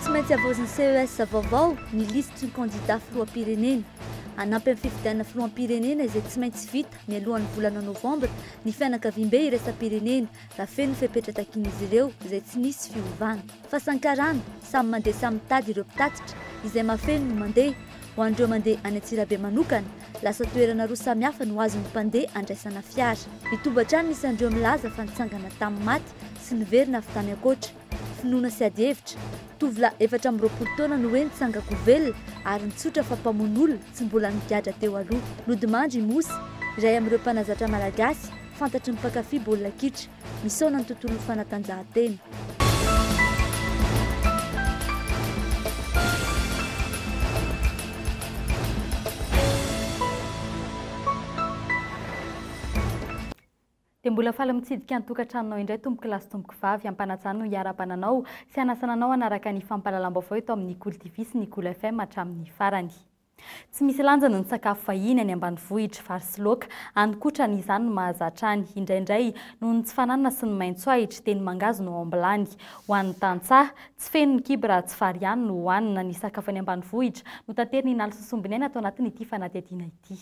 Tsy maintsy havaozin'ny CES vaovao ny lisitry ny kandidà filoham-pirenena. Hanampy amin'ny fifidianana filoham-pirenena izay tsy maintsy vita mialohan'ny volana novambra ny fianakaviambe iraisam-pirenena raha feno ny fepetra takian'izy ireo izay tsy nisy fiovana. Fasankarana, samy mandeha samy mitady ireo mpitatitra, izay mahafeno no mandeha. Ho an'ireo mandeha any Antsirabe manokana, lasa toerana roa samihafa no azon'ny mpandeha andraisana fiara. Mitombo hatrany ny isan'ireo milaza fa nitsangana tamin'ny maty sy niverina avy tany ankoatra. Finoana sy adihevitra. Tovolahy efatra amby roapolo taona no hoe nitsangan-kovelona ary nitsotra fa mpamono olona tsy mbola nigadra teo aloha. Nodimandry i Mosy, iray amin'ireo mpanazatra malagasy fantatry ny mpankafy baolina kitra. Misaona ny tontolon'ny fanatanjahantena. Dia mbola faly mitsidika ny tokantranonao indray tompokolahy sy tompokovavy, ampanajany no iarahabana anao sy hanasana anao hanaraka ny fampahalalam-baovao eto amin'ny Kolo TV sy ny Kolo FM hatramin'ny farany. Tsy misy lanjany ny sakafo vahiny any ambanivohitra, vary sy laoka, any kotra ny izany no mahazatra any. Indraindray, noho ny tsy fananana sy ny maintso ahitra, dia ny mangahazo no ao am-bilany. Ho an'ny tantsaha, tsy feno ny kibo raha tsy vary ihany no hohanina. Ny sakafo any ambanivohitra no tateriny inalsosombineina ato anatin'ity fanadihadiana ity.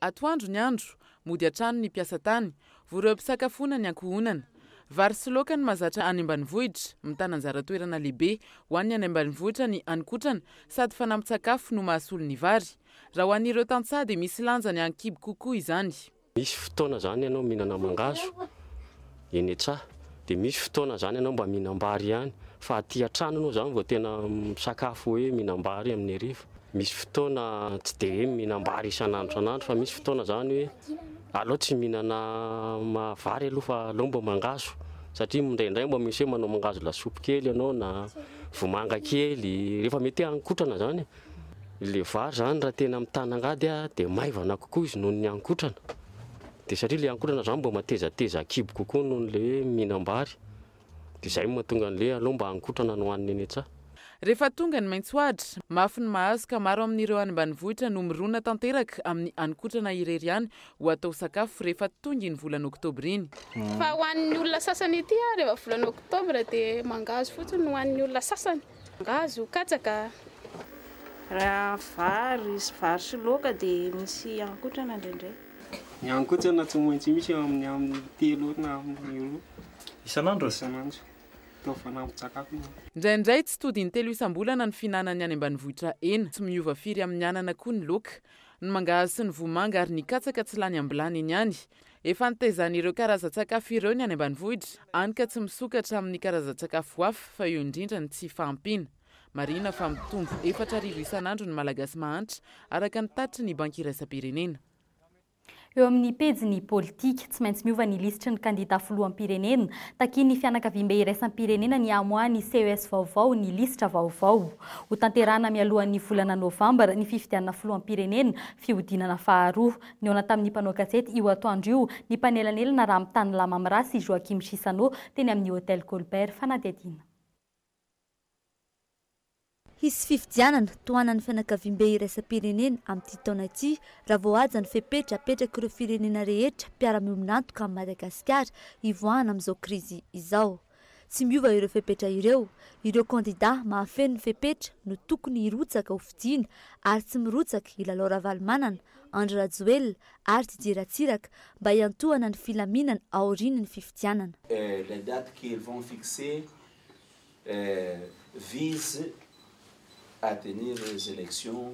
Atoandro ny andro, mody hatrany ny mpiasa tany, vory eo am-pisakafoana ny ankohonana. Vary sy laoka no mahazatra any ambanivohitra, mitana anjara toerana lehibe ho an'ny any ambanivohitra ny haninkotrana sady fanampin-tsakafo no mahasolo ny vary. Raha ho an'ireo tantsaha dia misy lanjany an-kibo kokoa izany. Misy fotoana izany ianao mihinana mangahazo. Eny e tsa! Dia misy fotoana izany ianao mba mihinam-bary ihany fa aty an-trano ianao izany vao tena misakafo hoe mihinam-bary amin'ny hariva. Misy fotoana tsy dia hoe mihinam-bary isan'andro isan'andro fa misy fotoana izany hoe aleo tsy mihinana vary aloha fa aleo mba mangahazo satria indraindray mba misy hoe manao mangahazo lasopy kely ianao na vomanga kely rehefa mety hoe haninkotrana izany e. Ilay vary izany raha tena mitana angady aho dia maivana kokoa izy noho ny haninkotrana. Dia satria ilay haninkotrana izany mba matezateza an-kibo kokoa noho ilay hoe mihinam-bary. Dia izay no mahatonga an'ilay aleo mba haninkotrana no hohanina eny an-tsaha. Rehefa tonga ny maitsoadra, mafy ny mahazo ka maro amin'ireo any ambanivohitra no mirona tanteraka amin'ny haninkotrana irery ihany ho atao sakafo rehefa tonga iny volana oktobra iny. Fa ho an'ny olona sasany ety ary rehefa volana oktobra dia mangahazo fotsiny ho an'ny olona sasany. Angaha azo ho katsaka? Raha vary sy vary sy laoka dia misy ihankotrana indraindray. Ny ihankotrana tsy maintsy misy eo amin'ny amin'ny telo na amin'ny roa isan'andro isan'andro. Atao fanampin-tsakafo moa. Indraindray tsy tody in-telo isam-bolana ny fihinanan'ny any ambanivohitra hena. Tsy miova firy amin'ny anana koa ny laoka. Ny mangahazo sy ny vomanga ary ny katsaka tsy lany am-bilany eny ihany. Efa nitezan'ireo karazan-tsakafo ireo ny any ambanivohitra, any ka tsy misokatra amin'ny karazan-tsakafo hafa fa eo indrindra ny tsy fahampiana. Marihina fa mitombo efatra arivo isan'andro ny Malagasy mahantra, araka ny tatitry ny Banky Iraisam-pirenena. Eo amin'ny pejiny politika, tsy maintsy miova ny lisitry ny kandidà filoham-pirenena. Takian'ny fianakaviambe iraisam-pirenena ny hamoahan'ny ces vaovao ny lisitra vaovao. Hotanterahina mialohan'ny volana novambra ny fifidianana filoham-pirenena, fihodinana faharoa. Nihaona tamin'ny mpanao gazety io atoandro io ny mpanelanelana Ramitanilahy Mamrà sy Joachim Chissano teny amin'ny Hotel Colbert Fanadihadiana. Hisy fifidianana tohanan'ny fianakaviambe iraisam-pirenena amin'ity taona ity raha vao haja ny fepetra apetrak'ireo firenena rehetra mpiara-miombon'antoka amin'i Madagasikara hivoahana amin'izao krizy izao. Tsy miova ireo fepetra ireo. Ireo kandidà mahafeno ny fepetra no tokony hirotsaka ho fidiana ary tsy mirotsaka i Lalao Ravalomanana, Andry Rajoelina ary Didier Ratsiraka mba hiantohana ny filaminana aorian' ny fifidianana. La date qu'ils vont fixer vise à tenir les élections.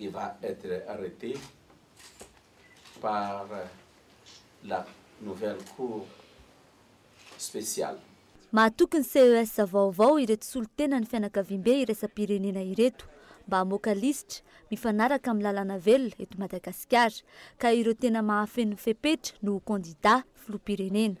Il va etre arrete par la nouvelle cour speciale. Mahatoky ny CES vaovao ireto solontenan'ny fianakaviambe iraisam-pirenena ireto mba hamoaka lisitra mifanaraka amin'ny lalàna velona eto Madagasikara ka ireo tena mahafeno ny fepetra no ho kandidà filoham-pirenena.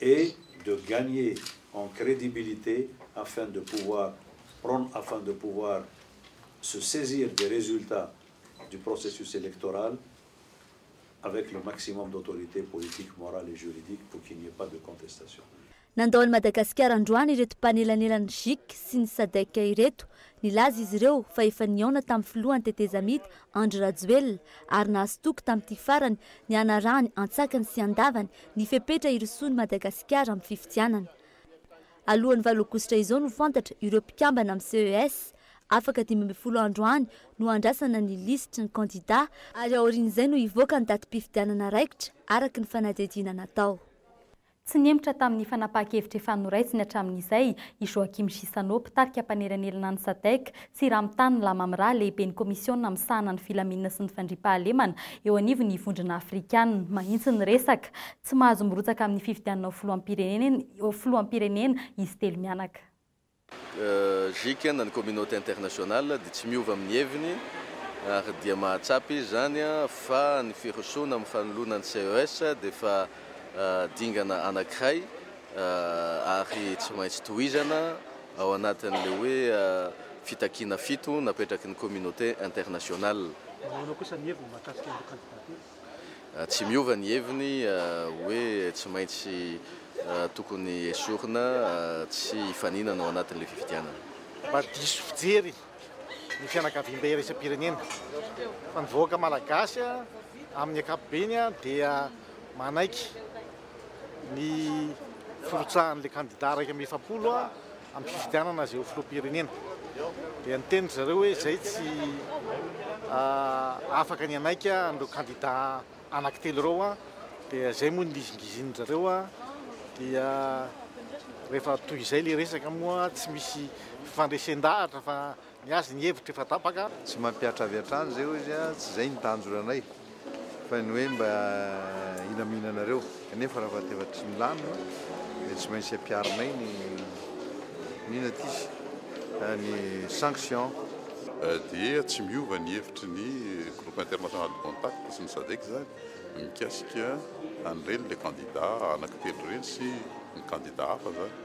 et de gagner en crédibilité afin de pouvoir prendre afin de pouvoir se saisir des résultats du processus électoral avec le maximum d'autorité politique, morale et juridique pour qu'il n'y ait pas de contestation. Nandao an'i Madagasikara androany ireto mpanelanelan'ny Gic sy ny Sadec ireto. Nilaza izy ireo fa efa nihaona tamin'ny filoha an-tetezamita Andry Rajoelina ary nahazo toky tamin'ity farany ny hanarahany an-tsakany sy an-davany Ny fepetra hirosoan'i Madagasikara amin'ny fifidianana. Alohan'ny valo aogositra izao no fantatra ireo mpikambana amin'ny CES. Afaka dimy ambin'ny folo andro any no handrasana ny lisitry ny kandidà ary aorian'izay no hivoaka ny datim-pifidianana raikitra araka ny fanadihadiana natao. Tsy nihemotra tamin'ny fanapahan-kevitra efa noraisiny hatramin'izay i Joachim Chissano, mpitarika mpanelanelana ny Sadc, Tsiramitany Lamamra, lehiben'ny Komisiona misahana ny filaminana sy ny fandriampahalemana eo anivon'ny Vondrona Afrikana, mahitsy ny resaka. Tsy mahazo mirotsaka amin'ny fifidianana ho filoham-pirenena filoham-pirenena izy telo mianaka. JK. na ny communauté internationale dia tsy miova amin'ny heviny ary dia mahatsapa izy izany fa ny firosoana amin'ny fanoloana ny CES dia efa dingana anankiray ary tsy maintsy tohizana. ao anatin'ilay hoe fitakiana fito napetraky ny communauté internationale. Ahoana kosa ny heviny mahakasika ireo kandidatira? Tsy miova ny heviny hoe tsy maintsy tokony esorina tsy hifaninana ao anatin'ilay fifidianana. Mba diso fijery ny fianakaviam-be iraisam-pirenena fa ny vahoaka malagasy amin'ny ankapobeny dia manaiky. ny firotsahan'ilay kandida iraika amby efapolo amin'ny fifidianana azy ho filoham-pirenena. Dia niteny ry zareo hoe izay tsy afaka ny hanaiky an'ireo kandida anankitelo ireo dia izay moa ny nizingizin-dry zareo dia rehefa toy izay ilay resaka moa tsy misy fifandresen-dahatra fa Ny azy ny hevitro efa tapaka. Tsy mampihatra avy hatrany izay hoy izy a, tsy izay ny tanjona anay fa ny hoe mba hilaminanareo kanefa raha fa efa tsy milamina dia tsy maintsy ampiharinay ny ny notice a, ny sanction. Dia tsy miova ny hevitry ny Groupe International de Contact sy ny Sadec izany mikasika an'ireny le candidat anaky telo ireny sy ny candidat hafa izany.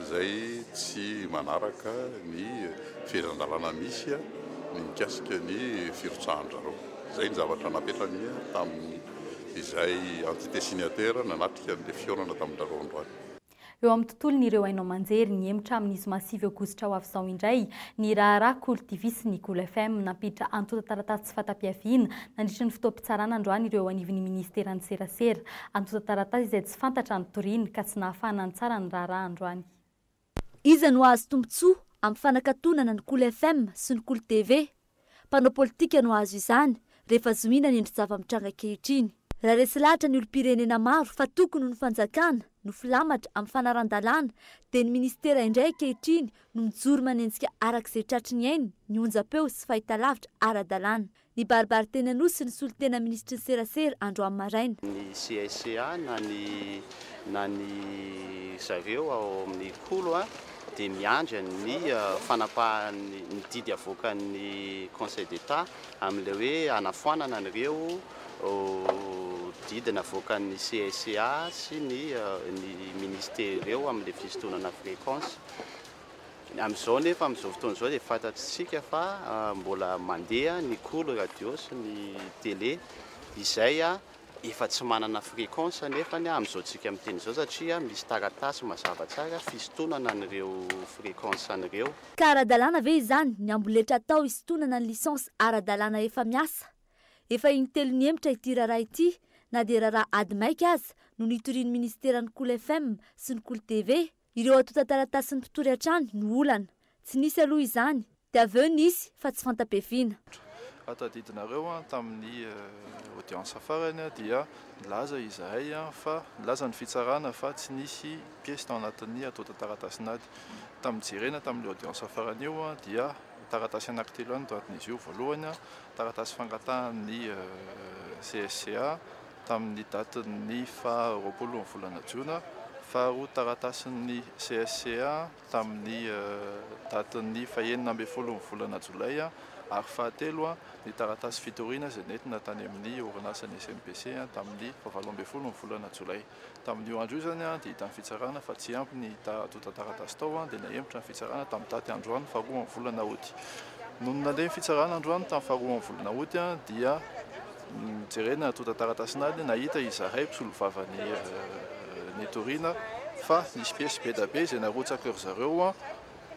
izay tsy manaraka ny fehezan-dalàna misy ny mikasika ny firotsahan-dRareo. Izay ny zavatra napetrany tamin'izay entités signataires nanatrika an'ilay fihaonana tamin-dRareo androany. Eo amin'ny tontolon'ireo haino aman-jery, nihemotra amin'ny zoma sivy aogositra ho avy izao indray ny raharaha Kolo TV sy ny Kolo FM. Nampiditra antontan-taratasy tsy fahatapiaviana nandritra ny fotoam-pitsarana androany ireo eo anivon'ny minisiteran'ny serasera. Antontan-taratasy izay tsy. Tsy fantatra ny toriany ka tsy nahafahana nitsara ny raharaha androany. Iza no hahazo tombontsoa amin'ny fanakatonana ny Kolo FM sy ny Kolo TV? Mpanao politika no hahazo izany rehefa zohiana ny endri-java-mitranga ankehitriny. Raha resy lahatra ny olom-pirenena maro fa tokony ho ny fanjakana no filamatra amin'ny fanaran-dalàna dia ny minisitera indray ankehitriny no mijoro manenjika araka izay tratry ny ainy ny onjam-peo sy fahitalavitra ara-dalàna. Nibaribary teny Anosy ny solontena minisitry ny serasera androany maraina. Ny CSEA na ny na ny zareo ao amin'ny Kolo dia miandry ny fanapahan'ny ny didy avoakan'ny Conseil d'Etat amin'ilay hoe hanafoanana an'ireo didy navoakan'ny CSEA sy ny ny Ministera ireo amin'ilay fisintonana frequence. Amin'izao nefa amin'izao fotoana izao dia fantatsika fa mbola mandeha ny cool radio sy ny télé izay efa tsy manana fréquence nefa amin'izao tsika miteny izao satria misy taratasy mazava tsara fisintonana an'ireo fréquence an'ireo. Ka ara-dalàna ve izany ny amboletra atao hisintonana ny licence ara-dalàna efa miasa? Efa in-telo nihemotra ity raharaha ity na dia raharaha ady maika aza no nitorian'ny minisiteran'ny Cool FM sy ny Cool TV Ireo antontan-taratasin'ny mpitory hatrany no olana. Tsy nisy aloha izany, dia avy eo nisy fa tsy fanta-piaviana. Raha tadidinareo tamin'ny audience farany dia nilaza izahay fa nilaza ny fitsarana fa tsy nisy piesy tao anatin'ny antontan-taratasin'ady. Tamin'ny jerena tamin'io audience farany io dia taratasy anankitelo ihany no tanjon'izy io. Voalohany, taratasy fangatahan'ny CSCA. tamin'ny datin'ny faha roapolon'ny volana jona, faharoa taratasin'ny CSCA tamin'ny datin'ny fahenina ambin'ny folon'ny volana jolay ary fahatelo ny taratasy fitoriana izay nentina tany amin'ny orinasan'ny SNPC tamin'ny fahavalo ambin'ny folon'ny volana jolay. Tamin'io andro io izany dia hitan'ny fitsarana fa tsy ampy ny antontan-taratasy tao dia nahemotra ny fitsarana tamin'ny daty androany faharoa amin'ny volana Août. Nony nandeha ny fitsarana androany tamin'ny faharoa amin'ny volana Août dia nojerena ny antontan-taratasin'ady nahita izahay mpisolovavany nitoriana fa nisy piesy be da be izay narotsaka ry zareo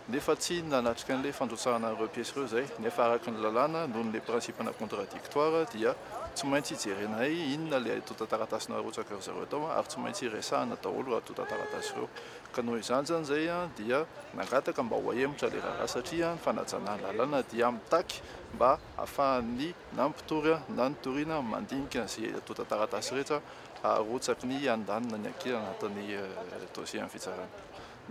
nefa tsy nanatrika an'ilay fandrotsahana an'ireo piesy ireo izay, nefa araka ny lalàna, noho ny le principe-na contradictoire, dia tsy maintsy jerena ai inona ilay antontan-taratasy narotsaka ry zareo tao ary tsy maintsy resahana daholo ireo antontan-taratasy ireo. Ka noho izany izany izay dia nangataka mba ho ahemotra ilay raharaha satria ny fanajana ny lalàna dia mitaky mba hahafahan'ny na ny mpitory na ny toriana mandinika an'izay antontan-taratasy rehetra arotsaky ny andaniny na ny ankilany anatin'ny dossier amin'ny fitsarana.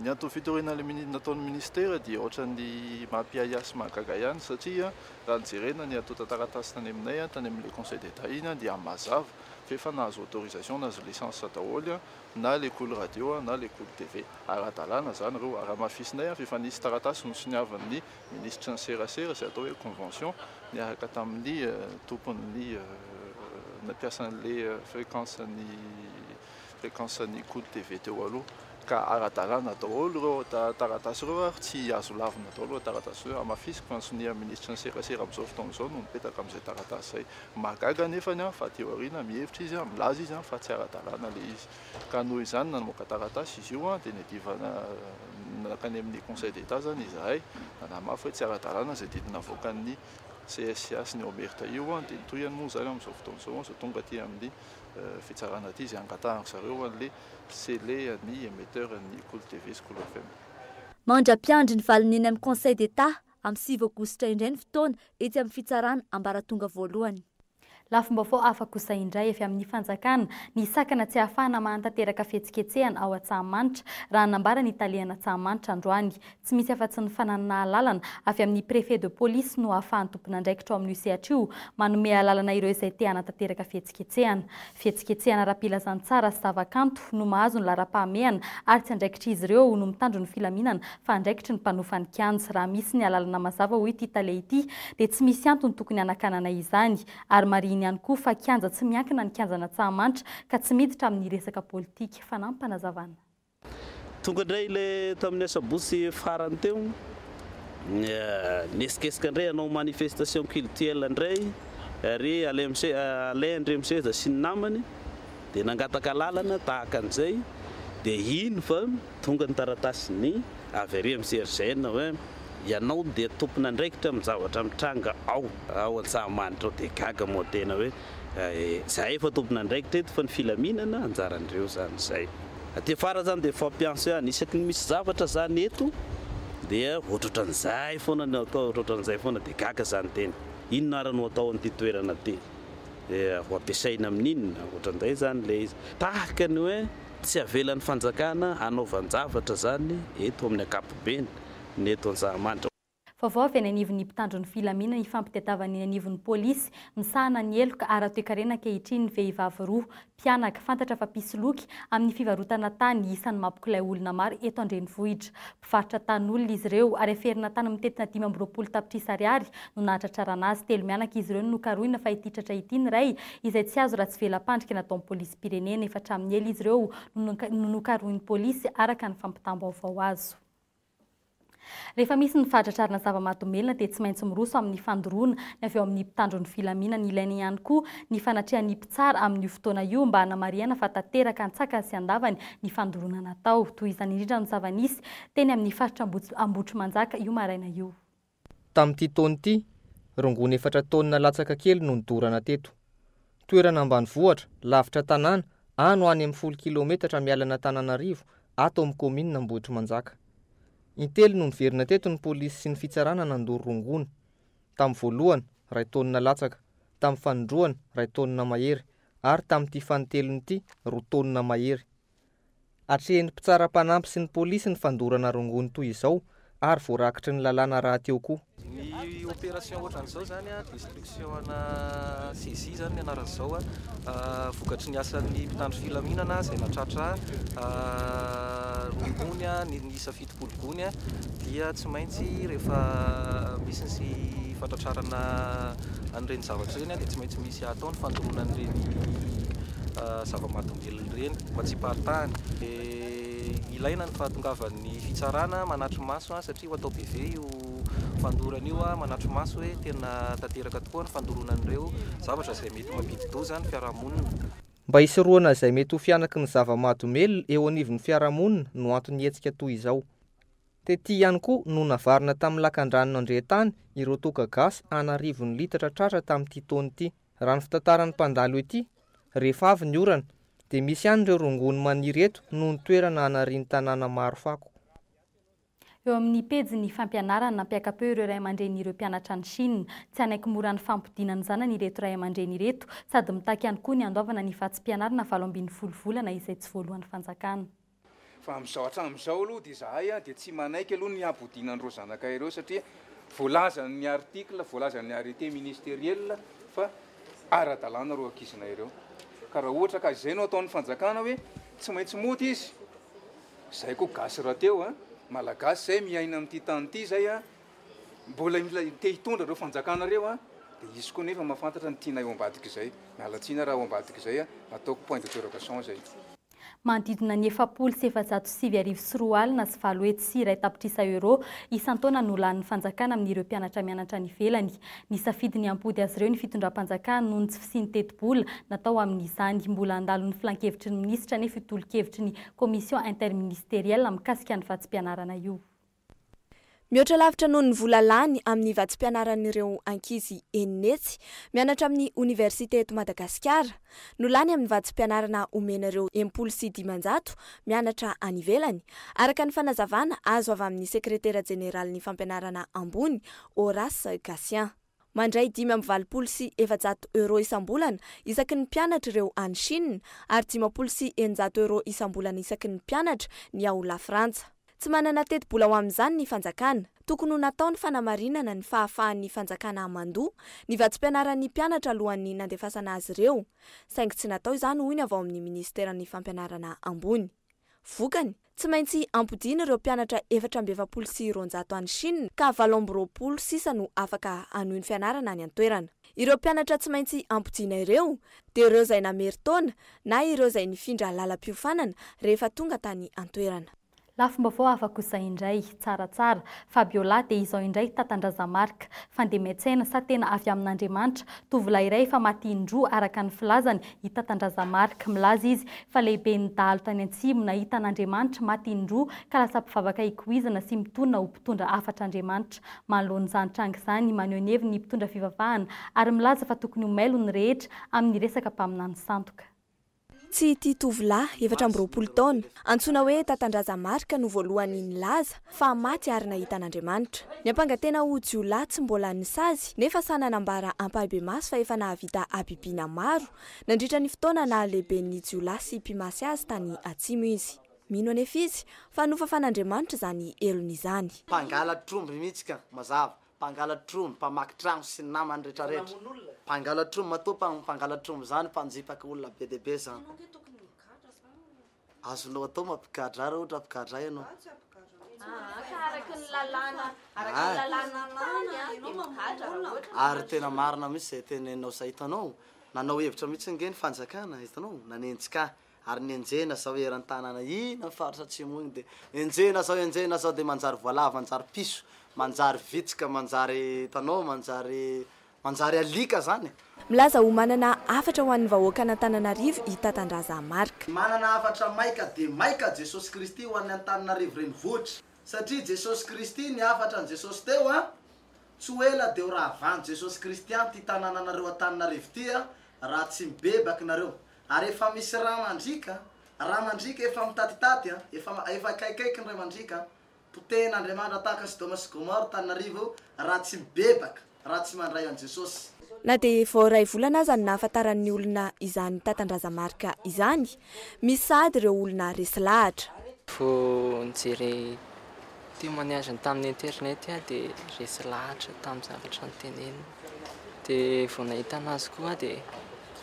Ny antony fitoriana ilay nataon'ny minisitera dia ohatran'ny mampiahiahy sy mahagaga ihany satria raha ny jerena ny antontan-taratasy tany aminay, tany amin'ilay Conseil d'Etat iny dia mazava fa efa nahazo autorisation, nahazo licence daholo na ilay Koly radio na ilay Koly TV. Ara-dalàna izany ireo. Ary hamafisinay fa efa nisy taratasy nosoniavin'ny minisitry ny serasera izay atao hoe convention niaraka tamin'ny tompon'ny mpiasan'ilay fréquence-n'ny. fréquence an'i Kolo TV teo aloha ka ara-dalàna daholo ireo taratasy ireo ary tsy azo lavina daholo ireo taratasy ireo. Hamafisiko fa ny sonian'ny minisitry ny serasera amin'izao fotoana izao no mipetaka amin'izay taratasy izay. Mahagaga anefa ny ahy fa aty aoriana mihevitra izy, milaza izy fa tsy ara-dalàna ilay izy ka noho izany namoaka taratasy izy io dia niadivana nankany amin'ny Conseil d'Etat izany izahay nanamafy hoe tsy ara-dalàna izay didy navoakan'ny CSIA sy ny OMERTA io dia ny tohiny moa izany amin'izao fotoana izao aza tonga aty amin'ny fitsarana aty izay angatahan-dry zareo an'le Cele an'ny Emetteur an'ny Kolo TV sy Kolo FM. Mandra-piandry ny valiny eny amin'ny Conseil d'Etat amin'ny sivy Aogositra indray ny fotoana etsy amin'ny fitsarana ambaratonga voalohany. Lafim-baovao hafa kosa indray avy amin'ny fanjakana ny sakana tsy ahafahana mahantanteraka fihetsiketsehana ao Antsahamanitra, raha nambara ny talen'Antsahamanitra androany. Tsy misy afa-tsy ny fananana alalana avy amin'ny Préfet de police no ahafahan'ny tompon'andraikitra ao amin'io sehatra io manome alalana ireo izay te hanatanteraka fihetsiketsehana. Fihetsiketsehana ara-pilazantsara sy zavakanto no mahazo ny laharam-pahamehana ary tsy andraikitr'izy ireo no mitandro ny filaminana fa andraikitry ny mpanofa ny kianja. Raha misy ny alalana mazava hoy ity tale ity dia tsy misy antony tokony hanakanana izany ary marihiny ihany koa fa kianja tsy miankina ny kianjan'Antsahamanitra ka tsy miditra amin'ny resaka politika. Fanampana, Zavana. Tonga indray le tamin'ny asabotsy farany teo, niesikesika indray hanao manifestation cultuelle indray ry Alain Andriamiseza sy ny namany dia nangataka alalana tahaka an'izay dia iny fa tonga ny taratasin'ny avy ary amin'ny CRGN hoe ianao dia tompon'andraikitra amin'ny zavatra mitranga ao ao Antsahamanitra ao dia gaga moa tena hoe Izahay efa tompon'andraikitra eto fa ny filaminana anjaran'ireo izany izay. Aty afara izany dia fampianso ihany. Isaky ny misy zavatra izany eto dia ohatrohatran'izay foana no atao, ohatrohatran'izay foana dia gaga izany tena. Inona ary no atao an'ity toerana ity? Dia ho ampiasaina amin'inona? Ohatran'izay izany ilay izy. Tahaka ny hoe tsy avelan'ny fanjakana hanaovan-javatra izany eto amin'ny ankapobeny ny eto Antsahamanitra. Vaovao avy any anivon'ny mpitandro ny filaminana ifampitadiavana eny anivon'ny polisy misahana ny heloka ara-toekarena ankehitriny ny vehivavy roa mpianaka fantatra fa mpisoloky amin'ny fivarotana tany isan'ny mampikilay olona maro eto an-drenivohitra. Mpivarotra tanin'olona izy ireo ary aferina tany amin'ny tetina dimy amby roapolo tapitrisa ariary no nahatratrarana azy. Telo mianaka izy ireo no nokarohina fa ity tratra ity ny iray izay tsy azo raha tsy vela-pandrika nataon'ny polisim-pirenena. Efa hatramin'ny ela izy ireo no nokarohin'ny polisy araka ny fampitam-baovao azo. Rehefa misy ny fahatratrarana zava-mahadomelina dia tsy maintsy miroso amin'ny fandoroana ny avy ao amin'ny mpitandro ny filaminana. Ilaina ihany koa ny fanatrehan'ny mpitsara amin'io fotoana io mba hanamarihana fa tanteraka an-tsakany sy an-davany ny fandoroana natao. Tohizany indrindra ny zava-nisy teny amin'ny faritra Ambohitrimanjaka io maraina io. Tamin'ity taona ity, rongony efatra taonina latsaka kely no nodorana teto. Toerana ambanivohitra, lavitra tanàna, ano any amin'ny folo kilaometatra miala an'Antananarivo, ato amin'ny kaominina Ambohitrimanjaka. Intelo no niverina teto ny polisy sy ny fitsarana nandoro rongony. Tamin'ny voalohany, iray taonina latsaka, tamin'ny fanindroany, iray taonina mahery, ary tamin'ity fanintelony ity, roa taonina mahery. Atrehin'ny mpitsara mpanampy sy ny polisy ny fandorana rongony toy izao ary voarakitry ny lalàna rahateo koa. Ny opération ohatran'izao izany, destruction ana saisie izany ny anaran'izao, vokatry ny asan'ny mpitandro filaminana izay natratra rongony niisa fito. Folo gony dia tsy maintsy rehefa misy ny fantratrarana an'ireny zavatra ireny dia tsy maintsy misy atao ny fandoroana an'ireny zava-mahadomelina ireny mba tsy hiparitahany. Dia ilaina ny fahatongavan'ny fitsarana manatri-maso satria ho atao BV io fandorana io manatri-maso hoe tena tanteraka tokoa ny fandoroana an'ireo zavatra izay mety mampidi-doza ny fiarahamonina. Mba hisorohana izay mety ho fihanaky ny zava-mahadomelina eo anivon'ny fiarahamonina no anton'ny hetsika toy izao. Tety ihany koa no navarina tamin'ny lakan-drano nandrehan-tany ireo toaka gasy an'arivony litatra tratra tamin'ity taona ity. Raha ny fitantaran'ny mpandalo ety, rehefa avy ny orana, dia misy ihany ireo rongony maniry eto noho ny toerana anarian'ny tanàna maro fako. Eo amin'ny pejin'ny fampianarana, nampiaka-peo ireo ray aman-drenin'ireo mpianatra any Shina. Tsy hanaiky mora ny fampodiana ny zanany ireto ray aman-dreny ireto, sady mitaky ihany koa ny handoavana ny vatsim-pianarana valo ambin'ny folo volana izay tsy voaloan'ny fanjakana. Fa amin'izao hatramin'izao aloha dia izahay dia tsy manaiky aloha ny hampodiana an'ireo zanakay ireo satria voalazan'ny article, voalazan'ny arrêté ministeriel fa ara-dalàna ireo ankizinay ireo. Ka raha ohatra ka izay no ataon'ny fanjakana hoe tsy maintsy mody izy Zay koa gasy rahateo a! Malagasy zay miaina amin'ity tany ity zay a! Mbola mila te hitondra reo fanjakana reo a! Dia hisy koa nefa mahafantatra ny tianay ao ambadika izay. Miala tsiny raha ao ambadika izay a! Nataoko point d'interrogation zay. Manodidina ny efapolo sy efajato sy sivy arivo sy roa alina sy valo hetsy sy iray tapitrisa euros isan-taona no lanin'ny fanjakana amin'ireo mpianatra mianatra any ivelany. Nisafidy ny hampody azy ireo ny fitondram-panjakana noho ny tsy fisian'ny tetibola natao amin'izany. Mbola handalo ny filankevitry ny minisitra anefa io tolo-kevitry ny Commission interministerielle mikasika ny vatsim-pianarana io. Mihoatra lavitra noho ny vola lany amin'ny vatsim-pianaran'ireo ankizy eny Netsy mianatra amin'ny oniversite eto Madagasikara no lany amin'ny vatsim-pianarana omena ireo em-polo sy dimanjato mianatra any ivelany, araka ny fanazavana azo avy amin'ny sekretera jeneralin'ny fampianarana ambony, Horace Gatien. Mandray dimy amby valopolo sy efajato euros isam-bolana isaky ny mpianatra ireo any Chine, ary dimampolo sy eninjato euros isam-bolana isaky ny mpianatra ny ao Lafrantsa. Tsy manana tetibola ho amin'izany ny fanjakana. Tokony ho natao ny fanamarinana ny fahafahan'ny fanjakana hamandoa ny vatsim-pianaran'ny mpianatra alohan'ny nandefasana azy ireo, saingy tsy natao izany hoy ny avy ao amin'ny minisiteran'ny Fampianarana ambony. Vokany, Tsy maintsy ampodiana ireo mpianatra efatra amby efapolo sy roanjato any Chine ka valo amby roapolo sisa no afaka hanohy ny fianarana any an-toerana. Ireo mpianatra tsy maintsy ampodiana ireo dia ireo izay namery taona na ireo izay nifindra lalam-piofanana rehefa tonga tany an-toerana. Lafim-baovao hafa kosa indray, tsaratsara, Fabiola dia izao indray Tatandrazamarc, Fandemian-tsaina sa tena avy amin'Andriamanitra, tovolahy iray efa maty indroa araka ny filazany, I Tatandraza Marc milaza izy fa lehiben'ny dahalo tany Antsimo nahita an'Andriamanitra maty in-droa ka lasa mpivavaka ikoizana sy mitonona ho mpitondra hafatr'Andriamanitra. Manoloana izany tranga izany, maneho ny heviny ny mpitondra fivavahana ary milaza fa tokony ho mailo ny rehetra amin'ny resaka mpaminany sandoka. Tsy ity tovolahy, efatra amby roapolo taona, antsoina hoe Tatandraza Marc no voalohany nilaza fa maty ary nahita an'Andriamanitra. Niampanga tena ho jiolahy tsy mbola nisazy, nefa sahy nanambara ampahibemaso fa efa nahavita habibiana maro nandritra ny fotoana naha-lehiben'ny jiolahy sy mpimasy azy tany Atsimo izy. Mino anefa izy fa nofafan'Andriamanitra izany helony izany. Mpangalatr'omby mihitsy ka! Mazava, mpangalatr'omby, mpamaky trano sy ny namany retraretra. Mpangalatr'omby matoa mpangalatr'omby izany mpanjipaka olona be dia be izany. Azonao atao mampigadra raha ohatra mpigadra ianao. Za tsy hampigadra mihitsy. Aa ka araka ny lalàna, araka ny lalàna tany a, dia migadra raha ohatra ka. Ary tena marina mihitsy izay teneninao izay, hitanao? Nanao hevitra mihitsy ange ny fanjakana, hitanao? Nanenjika ahy, ary ny enjehina zao eran'ny tanàna iny amin'ny faritra atsimo iny dia enjehina zao, enjehina zao dia manjary voalavo, manjary piso, manjary vitsika, manjary, hitanao, manjary Manjary alika zany e! Milaza ho manana hafatra ho an'ny vahoakan'Antananarivo i Tatandraza Marc. Manana hafatra maika dia maika Jesosy Kristy ho an'ny Antananarivo renivohitra. Satria Jesosy Kristy ny hafatra ny Jesosy teo an! Tsy ho ela dia ho ravan'i Jesosy Kristy an ty tanananareo Antananarivo ty an raha tsy mibebaka nareo. Ary efa misy ra mandriaka an! Ra mandriaka efa mitatitaty an! Efa efa akaikaiky ny ray mandriaka an! Potehin' Andriamanitra tahaka Sodoma sy Gomora Tananarivo raha tsy mibebaka, raha tsy mandray an'i Jesosy. Na dia vao iray volana aza no nahafantaran'ny olona izany tatandrazamarika izany, misy sahady ireo olona resy lahatra. Vao nijery témoignage-ny tamin'ny internet aho dia resy lahatra tamin'ny zavatra noteneniny. Dia vao nahita anazy koa aho dia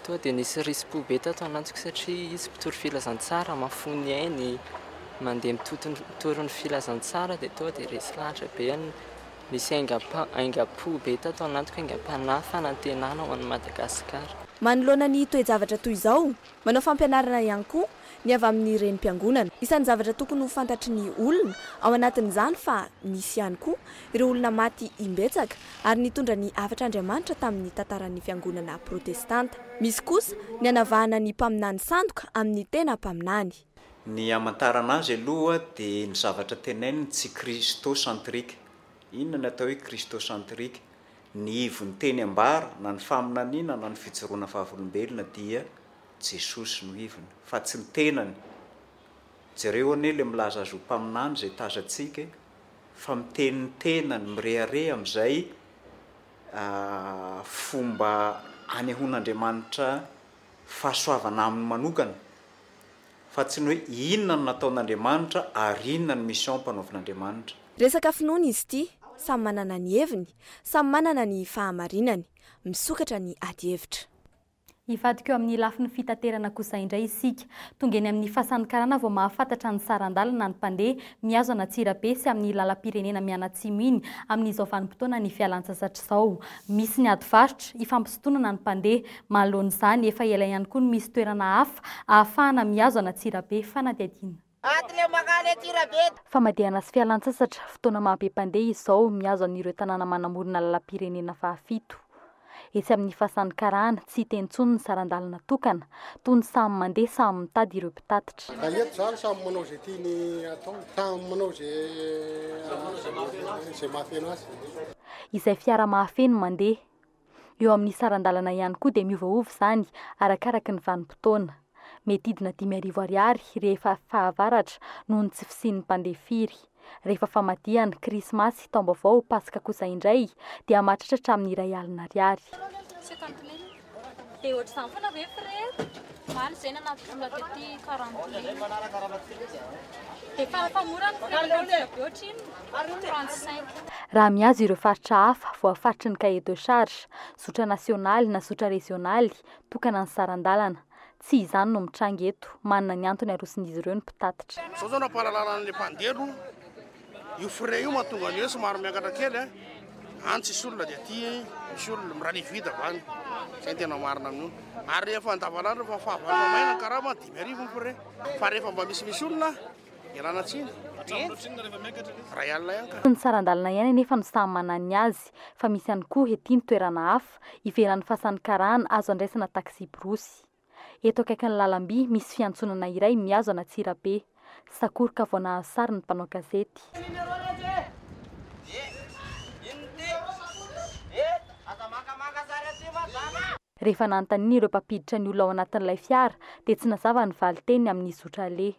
Toa dia nisy risi-po be tato ananjiko satria izy mpitory filazantsara, mahafoy ny ainy, mandeha mitory ny filazantsara dia toa dia resy lahatra be ny, nisy aingam-po be tato anatiko, aingam-panahy, fanantenana ho an'i Madagasikara. Manoloana ny toe-javatra toy izao, manao fampianarana ihany koa ny avy amin'ny renim-piangonana. Isan'ny zavatra tokony ho fantatry ny olona ao anatin'izany fa nisy ihany koa ireo olona maty imbetsaka, ary nitondra ny hafatr'Andriamanitra tamin'ny tantaran'ny Fiangonana Protestanta. Misy kosa ny hanavahana ny mpaminany sandoka amin'ny tena mpaminany. Ny hamantarana azy aloha dia ny zavatra tenaininy tsy Christocentrique. Inona ny atao hoe Christocentrique? Ny ivon'ny teny ambara, na ny faminaniana na ny fijoroana vavolombelona dia Jesosy no ivony, fa tsy ny tenany. Jereo anie le milaza azy ho mpaminany zay tazantsika e! Fa miteny ny tenany, mirehareha amin'izay fomba anehoan'Andriamanitra fahasoavana aminy manokana, fa tsy ny hoe inona no nataon'Andriamanitra ary inona ny mission ampanaovin'Andriamanitra. Resaka finoana izy ity, samy manana ny heviny, samy manana ny fahamarinany. Misokatra ny adihevitra. Hivadika eo amin'ny lafiny fitaterana kosa indray isika. Tonga eny amin'ny fasan'ny karana vao mahafantatra ny saran-dalana ny mpandeha mihazo an'Antsirabe sy amin'ny lalam-pirenena mianatsimo iny amin'izao vanim-potoanan'ny fialantsasatra izao. Misy ny ady varotra, ifampisintonana ny mpandeha. Manoloana izany, efa ela ihany koa no misy toerana hafa ahafahana mihazo an'Antsirabe, fanadihadiana. Aty le makany aty Rabe. Famadihana sy fialantsasatra, fotoana maha be mpandeha izao mihazo an'ireo tanàna manamorona lalam-pirenena fahafito. Etsy amin'ny Fasan'ny Karana, tsy hita intsony ny saran-dalana tokana, toa ny samy mandeha samy mitady ireo mpitatitra. Raha eto izany samy manao izay tiany atao, samy manao izay mahafeno azy. Izay fiara mahafeno mandeha. Eo amin'ny saran-dalana ihany koa dia miovaova izany arakaraky ny vanim-potoana. Mety hidina dimy arivo ariary rehefa fahavaratra noho ny tsy fisian'ny mpandeha firy. Rehefa famadihana, krismasy, taom-baovao, paska kosa indray dia mahatratra hatramin'ny iray alina ariary. Dia ohatr'izany foana ve frère? Omaly izay nanampy vola tety Farandolina. Dia fara-pamorany frère ka vola be ohatr'inona? 35. Raha mihazo ireo faritra hafa voafaritry ny cahier de charge, zotra nasionaly na zotra rezionaly, tokana ny saran-dalana. Tsy izany no mitranga eto. Manana ny antony aroson'izy ireo ny mpitatitra. Izao izao nampahalalan'ilay mpandeha aloha Io frais io mahatonga ny hoe somary miakatra kely a, any tsisy olona dia aty misy olona, miraha ny vide avy any, zay ny tena marina amin'io. Ary rehefa andavanandro efa fahavalo maina ny karama, dimy arivo ny frais. Fa rehefa mba misimisy olona, ialana tsiny, dia ray alina ihany ka. Tsy ny saran-dalana ihany anefa no samy manana ny azy fa misy ihany koa ety ny toerana hafa, ivelan'ny fasan'ny karana, azo andraisana taxi-borosy. Eto akaikin'ny lalamby misy fiantsonana iray mihazo an'Antsirabe. Sakoroka vao nahazo sary ny mpanao gazety. Rehefa nanontaniana ireo mpampiditra ny olona ao anatin'ilay fiara dia tsy nazava ny valin-teniny amin'ny zotra aleha.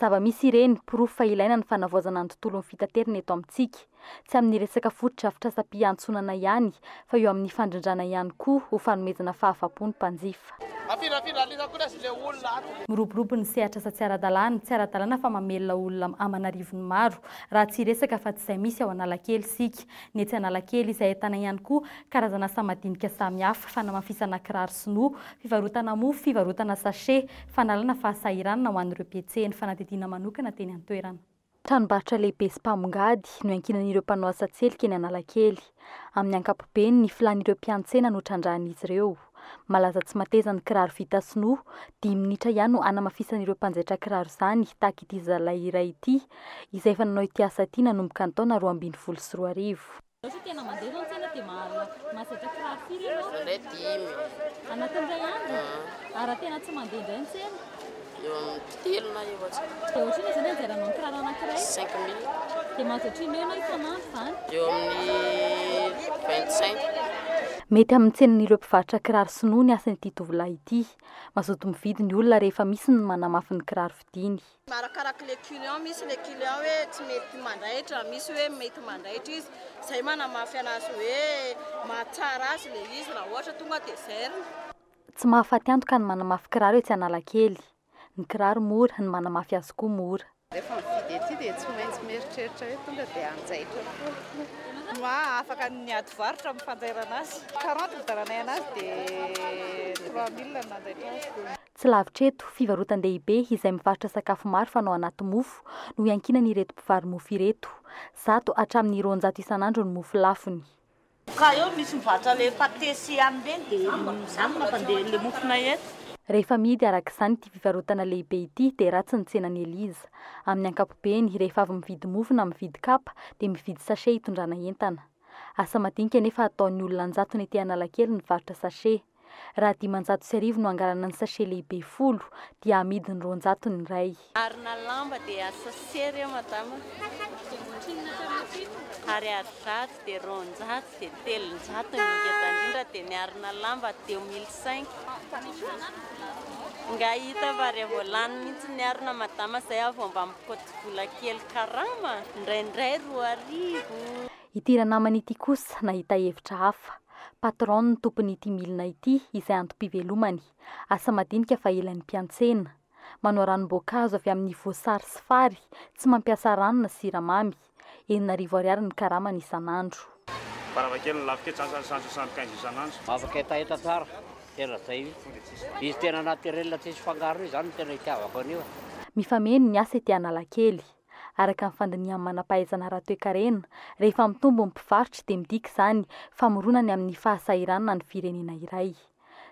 Zava-misy ireny, porofo fa ilaina ny fanavaozana ny tontolon'ny fitaterana eto amintsika. Tsy amin'ny resaka fotodrafitrasam-piantsonana ihany, fa eo amin'ny fandrindrana ihany koa ho fanomezana fahafa-po ny mpanjifa. Miroborobo ny sehatr'asa tsy ara-dalàna, tsy ara-dalàna fa mamelona olona aman'arivony maro, raha tsy hiresaka afa-tsy izay misy ao Analakely isika. Ny etsy Analakely, izay ahitana ihany koa karazan'asa madinika samihafa, fanamafisana kiraro sinoa, fivarotana mofo, fivarotana sachet, Fanalana fahasahiranana ho an'ireo mpihetsehan'ny fanadihadiana manokana teny an-toerana. Tranombarotra lehibe sy mpamongady no iankinan'ireo mpanao asa an-tselika eny Analakely. Amin'ny ankapobeny, ny filàn'ireo mpiantsena no trandrahan'izy ireo. Malaza tsy mateza ny kiraro vita sinoa. Dimy minitra ihany no hanamafisan'ireo mpanjaitra kiraro izany, tahaka ity zalahy iray ity, izay efa nanao ity asa ity nanomboka ny taona roa ambin'ny folo sy roa arivo. Mety amin'ny tsenin'ireo mpivarotra kiraro sinoa ny asan'ity tovolahy ity. Mazoto mividy ny olona rehefa misy ny manamafy ny kiraro vidiany. Arakaraka le client, misy le client hoe tsy mety mandaitra, misy hoe mety mandaitra izy, zay manamafy anazy hoe mahatsara azy le izy raha ohatra tonga de zairina. Tsy mahafaty antoka ny manamafy kiraro etsy Analakely. Ny kiraro mora, ny manamafy azy koa mora. Rehefa mividy ety dia tsy maintsy mieritreritra hoe tonga dia hanjaitra foana. Mah afaka ny miady varotra amin'ny fanjairana azy. Quarante vidaranay anazy dia trois mille no nanjaitra azy. Tsy lavitra eto, fivarotan-dehibe izay mivarotra sakafo maro fanao anaty mofo no iankinan'ireto mpivaro-mofo ireto. Zato hatramin'ny roanjato isan'andro ny mofo lafony. Ka eo misy mivarotra le pate sy ham ireny de zany mampandeha le mofonay eto. Rehefa amidy araka izany ity fivarotana lehibe ity dia ratsy ny tsenan'i Eliza. Amin'ny ankapobeny, rehefa avy mividy mofo na mividy kapa dia mividy sachet hitondrana entana. Asa madinika anefa ataon'ny olona an-jatony ety Analakely ny varotra sachet. Raha dimanjato sy arivo no angalana ny sachet lehibe folo dia amidiny roanjato ny iray. Ary na lamba dia sachet re madama ary ary zato dia roanjato dia telonjato ny ngeda indrindra dia ny arina lamba deux mille cinq nga hita fa re vao lany mihitsy ny arina madama zay aho vao mba mikoty vola kely karama indraindray roa arivo. Ity ranamana ity kosa nahita hevitra hafa. Patron ny tompon'ity milina ity izay antom-pivelomany. Asa madinika fa ela ny mpiantsena. Manao ranom-boankazo avy amin'ny voasary sy fary, tsy mampiasa rano na siramamy. Enina arivo ariary ny karamany isan'andro. Varavakely ny lafika, tsy asan'ny sandry sandry kainzo isan'andro. Afaka hetaheta tsara, tena zay mihitsy. Izy tena naturel tsisy fangaro io, zany no tena itiavako an'io. Mifameno ny asa ety Analakely. araka ny fandinihan'ny manam-pahaizana ara-toekarena, rehefa mitombo ny mpivarotra dia midika izany fa mirona ny amin'ny fahasahiranana ny firenena iray.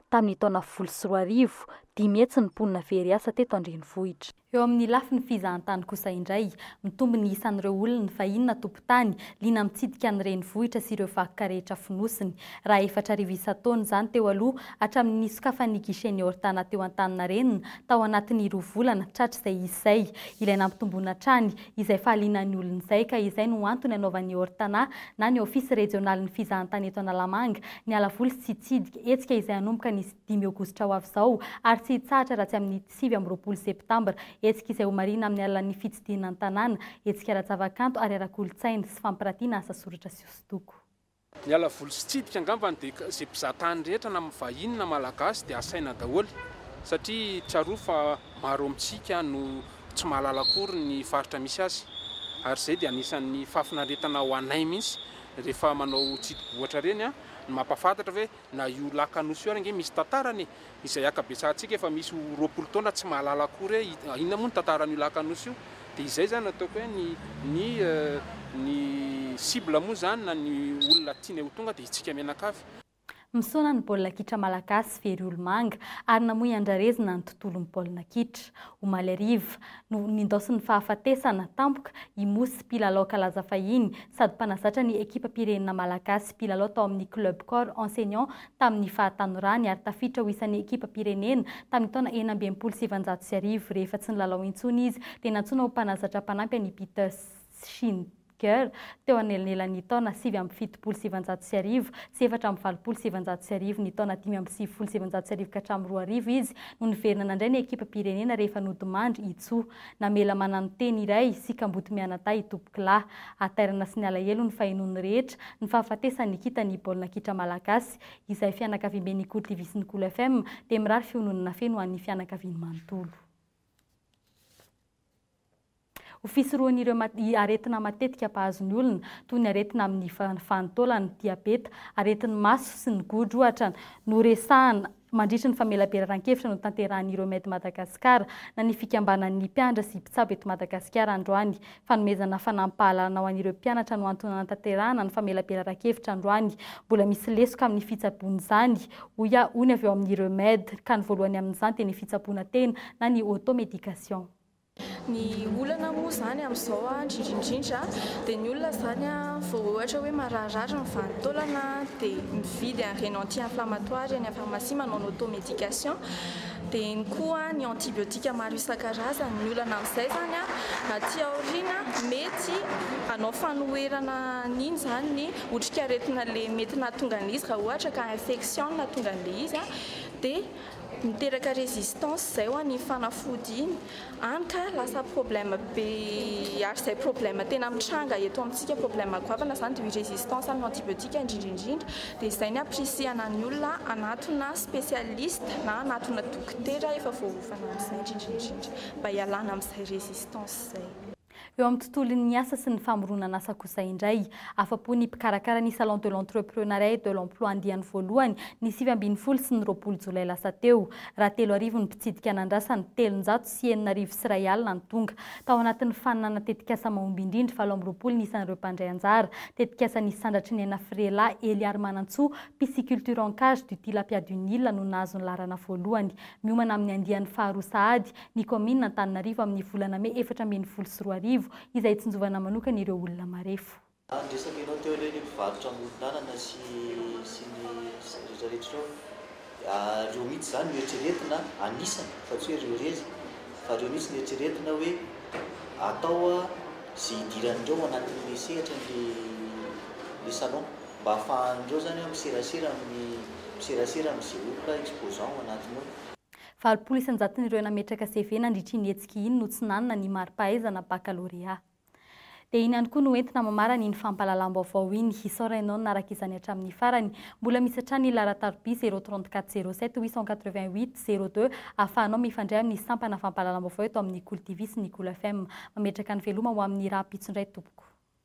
Tamin'ny taona folo sy roa arivo, dimy hetsy ny mponina very asa teto an-drenivohitra. Eo amin'ny lafiny fizahan-tany kosa indray, mitombo ny isan'ireo olona fahiny na fokontany, liana mitsidika ny renivohitra sy ireo vakoka rehetra fonosiny. Raha efatra arivo isan-taona izany teo aloha, hatramin'ny nisokafan'ny guichet-n'ny Ortana teo Antaninarenina, tao anatin'ny roa volana, tratra izay izy izay. Ilay nampitomboana hatrany, izay fahalianan'ny olona izay, ka izay no antony hanaovan'ny Ortana, na ny Ofisy Rejionalin'ny Fizahantany eto Analamanga, ny ala voly tsy hitsidika hetsika izay hanomboka ny dimy aogositra ho avy izao, ary tsy hitsahatra raha tsy amin'ny. sivy amby roapolo septambra. Hetsika izay homarihina amin'ny alalan'ny fitsidihina ny tanàna, hetsika ara-javakanto ary ara-kolontsaina, sy fampirantiana asa soratra sy hosodoko. Ny alavoly sy tsidika angambany dia izay mpizaha tany rehetra na vahiny na malagasy dia asaina daholo satria tsarovy fa maro amintsika no tsy mahalala akory ny faritra misy azy ary izay dia anisan'ny fahafinaretana ho anay mihitsy rehefa manao tsidibohatra ireny ny mampahafantatra hoe Na io lac Anosy io ary ange misy tantarany e! Izay akabetsahantsika efa misy ho roapolo taona tsy mahalala akory hoe inona moa ny tantaran'io lac Anosy io. Dia izay izany no ataoko hoe ny ny ny cible moa izany na ny olona tiany ho tonga dia itsika mianakavy. Misaona ny baolina kitra malagasy very olomanga ary namoy andrarezina ny tontolon'ny baolina kitra. Omaly hariva no nindaosin'ny fahafatesana tampoka i Mousse mpilalao kalaza fahiny sady mpanazatra ny ekipam-pirenena malagasy mpilalao tao amin'ny Club Corps Enseignant tamin'ny fahatanorany ary tafiditra ho isan'ny ekipam-pirenena tamin'ny taona enina amby enimpolo sy sivinjato sy arivo. Rehefa tsy nilalao intsony izy dia nantsoina ho mpanazatra mpanampy an'i Peter Shinn. Girl, teo anelanelan'ny taona sivy amby fitopolo sy sivinjato sy arivo sy efatra amby valopolo sy sivinjato sy arivo ny taona dimy amby sivifolo sy sivinjato sy arivo ka hatramin'ny roa arivo izy no niverina nandray ny ekipam-pirenena rehefa nodimandry i Tso. Namela mananoteny iray sy kamboty mianadahy i Tompokolahy. Hatairana sy ny alahelo ny fahenoan'ny rehetra ny fahafatesan'i Nikita ny baolina kitra malagasy. Izay fianakaviamben'i Ikory TV sy ny Cool FM dia mirary fiononana feno ho an'ny fianakaviany manontolo. Ho fisorohan'ireo aretina matetika mpahazo ny olona, toy ny aretina amin'ny vanin-taolana, diabeta, aretin'ny maso sy ny godro ohatra, no resahana mandritry ny famelaberaran-kevitra notanterahan'ny Remed Madagascar na ny fikambanan'ny mpianatra sy mpitsabo eto Madagasikara androany. Fanomezana fanampim-pahalalana ho an'ireo mpianatra no antony nanatanterahana ny famelaberaran-kevitra androany. Mbola misy lesoka amin'ny fitsaboana izany, hoy aho, hoy ny avy ao amin'ny Remed, ka ny voalohany amin'izany dia ny fitsaboana tena na ny auto-médication. Ny olana moa izany amin'izao indrindraindrindra dia ny olona izany vao ohatra hoe mararirary ny vanin-taolana dia mividy an'ireny anti inflamatoir eny amin'ny pharmacie manao ny auto medication dia eny koa ny antibiotique maro isan-karazany ny olana amin'izay izany aty aoriana mety hanao fanoherana an'iny izany ny otrikaretina le mety nahatonga an'ilay izy raha ohatra ka infection no nahatonga an'ilay izy dia Miteraka résistance zay ho an'iny fanafody iny, any ka lasa problème be ary zay problème tena mitranga eto amintsika problème goavana zany de résistance amin'ny antibiotiques indrindra indrindra de zay ny aprisihana ny olona hanatona spécialiste na hanatona dokotera efa voaofana amin'izay indrindra indrindra mba hialana amin'izay résistance zay. Eo amin'ny tontolon'ny asa sy ny famoronan'asa kosa indray, afa-po ny mpikarakara ny Salon de l'Entreprenariat et de l'Emploi andiany voalohany, ny sivy ambin'ny folo sy ny roapolo jolay lasa teo. Rahatelo arivo ny mpitsidika nandrasa ny telonjato sy enina arivo sy iray alina ny tonga. Tao anatin'ny faninana tetikasa mahomby indrindra valo amby roapolo ny isan'ireo mpandray anjara. Tetikasa nisy sandratry ny aina Friela Heliarimanantsoa, pisciculture en cage du Tilapia du Nil no nahazo ny laharana voalohany. Miomana amin'ny andiany faharoa sahady ny kaominina Antananarivo amin'ny volana mey efatra ambin'ny folo sy roa arivo, izay hitsinjovana manokana ireo olona marefo. Ary ny resaka enao teo ireny mpivarotra amoron'alana sy sy ny rehetra rehetra ireo dia reo mihitsy zany no eritreretina anisany fa tsy hoe reo rery fa reo mihitsy no eritreretina hoe atao ze hidiran'ireo anatin'le sehatra ny le salon mba hafahan'ireo zany miserasera amin'ny miserasera am'ze olona exposant ao anatiny ao. Valopolo isan-jaton'ireo nametraka CV nandritra iny hetsika iny no tsy nanana ny mari-pahaizana bakalorea. Dia iny ihany koa no entina mamarana iny fampahalalam-baovao iny. Hisaora ianao nanaraka izany hatramin'ny farany. Mbola misy hatrany ny laharan-tarobia 034 07 888 02 ahafahanao mifandray amin'ny sampana fampahalalam-baovao eto amin'ny Kolo TV sy ny Kolo FM. Mametraka ny veloma ho amin'ny rahampitso indray tompoko.